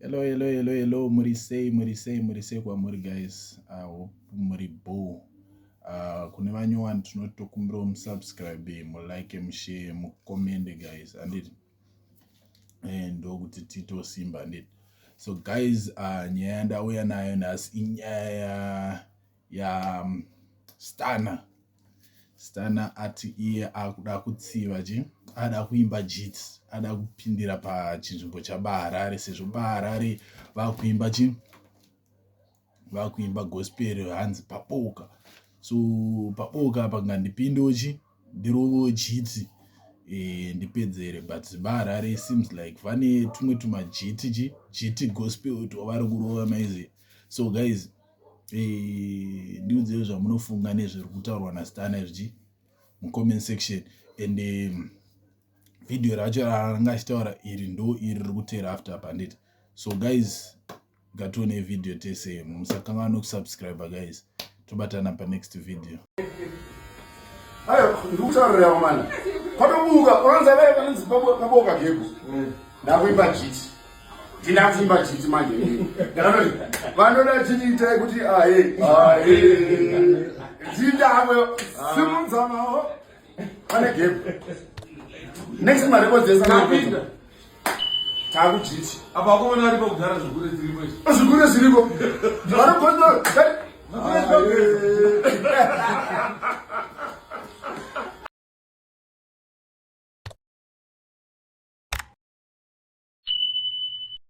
Hello, hello, hello, hello. Muri sei, muri sei, muri sei kwamuri guys. I hope muri boo. Uh, kune vanyowani tinotokumbirawo musubscribe, mulike, mushare, mucommente guys. Anditi? Eh, ndokuti tito simba anditi? So guys, uh, nyaya yandauya nayo nhasi inyaya ya ya um, stana Stunner ati iye akuda kutsiva chi ada kuimba jits ada kupindira pachinzvimbo chabaharare sezvo baharare vakuimba chi vakuimba gospel hanzi paboka so paboka apa ngandipindewo chi ndirovewo jiti e, eh, ndipedzere but baharare seems like vane tumwe tumajiti chi jiti gospel twavari kurova maizi so guys eh, ndiudzei zvamunofunga nezviri kutaurwa nasitana izvi mucomment section and um, video racho raanga achitaura iri ndo iri riri kuteera after pandit so guys ngatione video tese musakanganwa nekusubscribe guys tobatana panext video ayo ndikutaurira mwana patobuka unoza vaye vanonzi paboka gego ndakuimba jiti ndinakuimba jiti manje ndakanoti vanoda jiti itai kuti aye aye ndindakwe simudzamawo pane gego next marekodzesa taakujiti apa wakomana vari pakugara zvigure zviriko izvi zvigure zviriko vanogonda